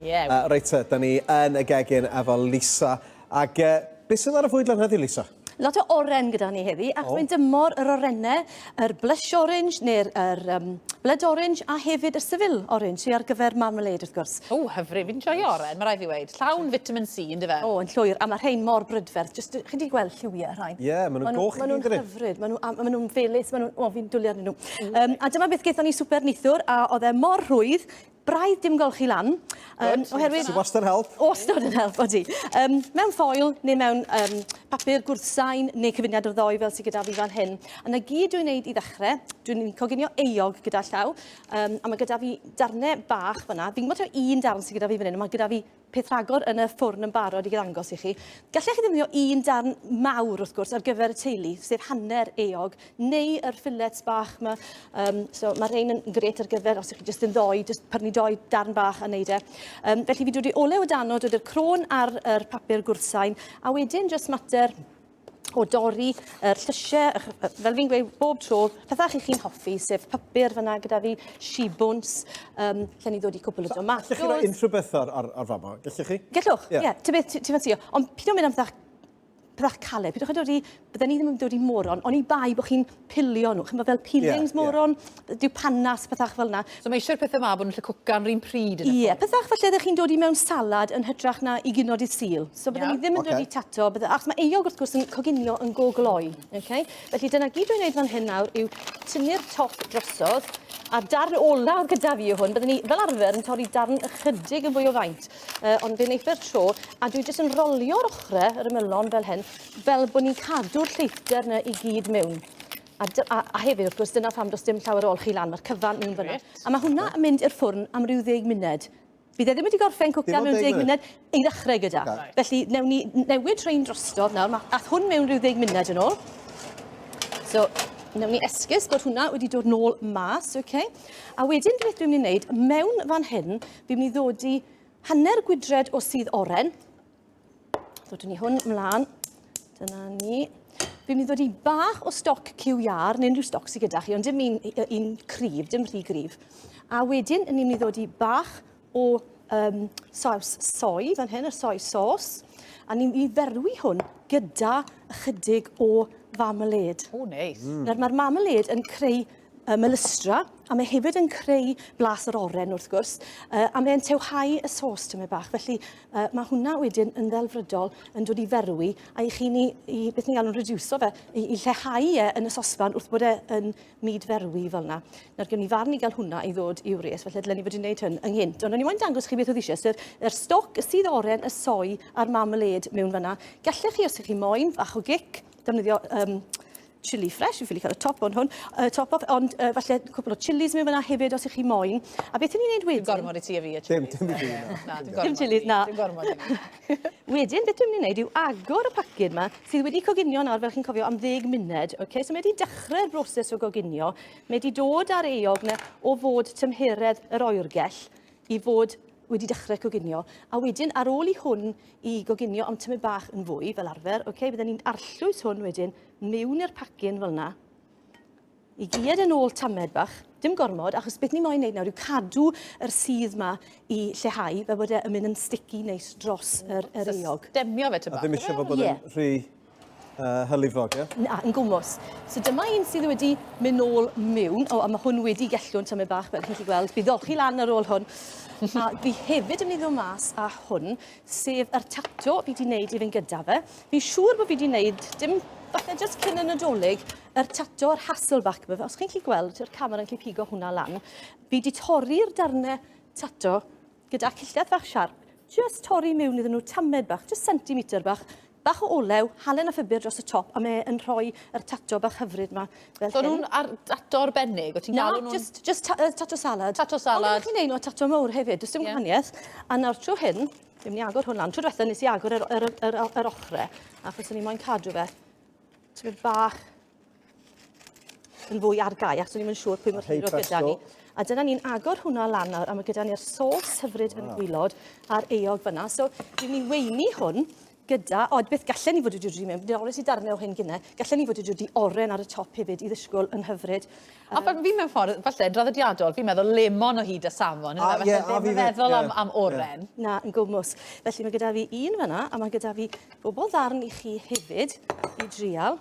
Ie. Yy reit te, 'da ni yn y gegin efo Lisa, ag yy be' sydd ar y fwydlen heddiw Lisa? Lot o oren gyda ni heddi, ac mae'n dymor yr orene, yr blush orange neu'r yr yym blood orange a hefyd y seville orange sy ar gyfer marmalade wrth gwrs. O, hyfryd, fi'n joio oren, ma' raid fi weud, llawn fitamin C on'd yfe? O, yn llwyr, a ma' rhein mor brydferth, jyst chi 'di gweld lliwie y rhain? Ie, ma' nw'n goch i gyd yn'dyn ni? Ma' nw'n hyfryd, ma' nw a ma' nw'n felys, ma' nw'n, o fi'n dwli arnyn nw. Yym a dyma beth gethon ni swper neithiwr a o'dd e mor rhwydd, braidd dim golchi lan. Um, oherwydd... Sy'n wastad yn help. Wastad yn help, odi. Um, mewn ffoil neu mewn um, papur gwrthsain neu cyfuniad o'r ddoi fel sy'n gyda fi fan hyn. A na gyd dwi'n gwneud i ddechrau, dwi'n coginio eog gyda llaw, um, a mae gyda fi darnau bach fyna. Fi'n gwybod taw un darn sy'n gyda fi fan hyn, ond mae gyda fi peth rhagor yn y ffwrn yn barod i ddangos i chi. Gallech chi ddefnyddio un darn mawr, wrth gwrs, ar gyfer y teulu, sef hanner eog, neu yr ffilets bach yma. Um, so mae rhain yn gret ar gyfer, os ydych chi jyst yn ddoi, jyst pyrnu doi darn bach a wneud e. Um, felly fi dod i olew y dano, dod i'r crôn ar yr papur gwrthsain, a wedyn jyst mater o dorri y llysiau, fel fi'n gweud bob tro, pethau chi chi'n hoffi, sef papur fyna gyda fi, shibwns, um, lle ni ddod i cwpl o domatos. Gallwch chi roi unrhyw beth o'r, or, or fama, gallwch chi? Gallwch, ie. Yeah. Ti'n beth ti'n ffansio, ond pyd o'n mynd am pethau pethau caled, pyd o'n chi dod i, bydden ni ddim yn dod i moron, ond i bai bod chi'n pilio nhw. Chimod, fel peelings, moron, dyw panas, pethach fel yna. So mae eisiau'r pethau ma bod yn lly cwcan rhywun pryd yn y Ie, pethach felly ydych chi'n dod i mewn salad yn hytrach na i gynod i sil. So byddwn ni ddim yn dod i tato, bydde, achos mae eog wrth gwrs yn coginio yn go gloi. Okay? Felly dyna gyd dwi'n neud fan hyn nawr yw tynnu'r top drosodd, a darn olaf gyda fi yw hwn. Byddwn ni fel arfer yn torri darn ychydig yn fwy o faint, uh, ond fe wneithio'r tro, a dwi jyst yn rolio'r ochrau, yr ymylon fel hyn, fel bod ni'n cadw'r lleithder yna i gyd mewn. A, a, a hefyd, wrth gwrs, dyna pham does dim llawer o olchi lan, mae'r cyfan mewn fyna. A mae hwnna yn mynd i'r ffwrn am rhyw ddeg munud. Bydd e ddim wedi gorffen cwcan mewn deg munud i ddechrau gyda. Okay. Felly, newn ni newid rhain drostodd nawr. Mae ath hwn mewn rhyw ddeg munud yn ôl. So, newn ni esgus bod hwnna wedi dod nôl mas, oce? Okay? A wedyn, beth dwi'n mynd i wneud, mewn fan hyn, fi'n mynd i ddod i hanner gwydred o sydd oren, Dodwn ni hwn mlaen. Dyna ni. Fi'n mynd i ddod i bach o stoc QR, neu unrhyw stoc sydd gyda chi, ond dim un, un cryf, dim rhy gryf. A wedyn, ni'n mynd i ddod i bach o um, saws soi, fan hyn, y soi sos, a ni'n mynd i ferwi hwn gyda ychydig o fameled. O, neis. Mm. Mae'r marmaled yn creu y melystra, a mae hefyd yn creu blas yr oren wrth gwrs, uh, a mae'n tewhau y sos tymed bach. Felly uh, mae hwnna wedyn yn ddelfrydol yn dod i ferwi, a i chi ni, i, beth ni'n galw'n rediwso fe, i, i lleihau e yn y sosfan wrth bod e yn myd ferwi fel yna. Nawr gen i farn i gael hwnna i ddod i'w res, felly dylen ni fod i'n gwneud hyn ynghynt. Ond o'n i'n moyn dangos chi beth oedd eisiau, sef yr er stoc, y sydd oren, y soi a'r marmalade mewn fyna. Gallech chi, os ydych chi moyn, fach o gic, defnyddio um, chilli fresh, fi'n ffili cael y top on hwn, y top off, ond uh, falle cwpl o chillis mewn fyna hefyd os ych chi moyn. A beth ni'n neud wedyn? Dwi'n gormod i ti a fi y chillis. Dim, dim i fi, na. na dim gormod, dim chillis, na. Dim gormod i fi. wedyn, beth dwi'n mynd i wneud yw agor y paced yma, sydd wedi coginio nawr, fel chi'n cofio, am ddeg munud. Okay? So mae wedi dechrau'r broses o goginio. Mae wedi dod ar eog na o fod tymheredd yr oergell i fod wedi dechrau coginio, a wedyn ar ôl i hwn i goginio am tymau bach yn fwy fel arfer, okay, bydden ni'n arllwys hwn wedyn mewn i'r pacyn fel yna, i gyed yn ôl tamed bach, dim gormod, achos beth ni moyn wneud nawr yw cadw yr sydd yma i lleihau, fel bod e yn mynd yn sticky neis dros yr, yr eog. So stemio fe tymor bach. A ddim eisiau fod bod yn rhy uh, hylifog, ie? Yeah? Na, yn gwmws. So dyma un sydd wedi mynd nôl mewn. O, a mae hwn wedi gellw'n tymau bach, fel chi'n gweld. Bydd olchi lan ar ôl hwn. a fi hefyd yn mynd o mas a hwn, sef yr tato fi wedi wneud i fynd gyda fe. Fi'n siŵr bod fi wedi wneud, dim falle jyst cyn y Nadolig, yr tato, yr Hasselback yma. Os chi'n chi gweld, yr camera'n chi pigo hwnna lan. Fi wedi torri'r darnau tato gyda cilltedd fach siarp, jyst torri mewn iddyn nhw tamed bach, jyst centimetr bach, Bach o olew, halen a phupur dros y top a mae e yn rhoi yr tato bach hyfryd yma fel hyn. So nhw'n ar dato arbennig, o ti'n galw nhw'n... Na, just, just ta uh, tato salad. Tato salad. Ond chi'n neud nhw a tato mowr hefyd, does dim yeah. gwahaniaeth. A nawr trwy hyn, fi'n mynd i agor hwn lan. Trwy diwetha nes i agor yr, yr, yr, yr, yr ochre, achos o'n i moyn cadw fe. Ti'n mynd bach yn fwy ar gau, achos o'n i'n siŵr pwy mor hir oedd gyda ni. A dyna ni'n agor hwnna lan nawr, a mae gyda ni'r sos hyfryd yn gwylod a'r eog fyna. So, dwi'n ni weini hwn gyda, o, beth gallen ni fod wedi dwi mewn, dwi'n orwys i darnau o hyn gynnau, gallen ni fod wedi dwi oren ar y top hefyd i ddysgwyl yn hyfryd. A um, fi mewn ffordd, falle, draddodiadol, fi'n meddwl lemon o hyd a safon, a, yeah, a fi meddwl yeah, am, am oren. Yeah. Na, yn gwmws. Felly mae gyda fi un fyna, a mae gyda fi bobl ddarn i chi hefyd i drial.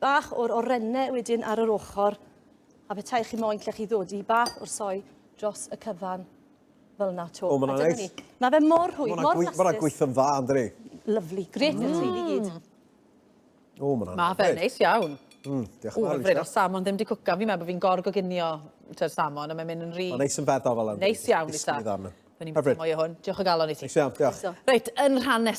Bach o'r orenne wedyn ar yr ochr, a petai chi moyn lle chi ddod i bach o'r soi dros y cyfan fel na to. O, mae'n A ni. Mae fe mor rhwydd, mor blastus. Mae'n gweithio'n dda, ynddi? Lovely, gret mm. y teulu i gyd. O, mae'n anodd. Mae fe neis iawn. Mm, diolch yn fawr. Ww, o'r salmon ddim wedi cwcan fi, mae bod fi'n gorgoginio te'r salmon, a mae'n mynd yn rhi... Mae'n neis yn feddwl fel yna. Neis iawn, Lisa. Fe ni'n mynd mwy o hwn. Diolch o galon i ti. Neis iawn, diolch. Reit, yn rhan nesaf.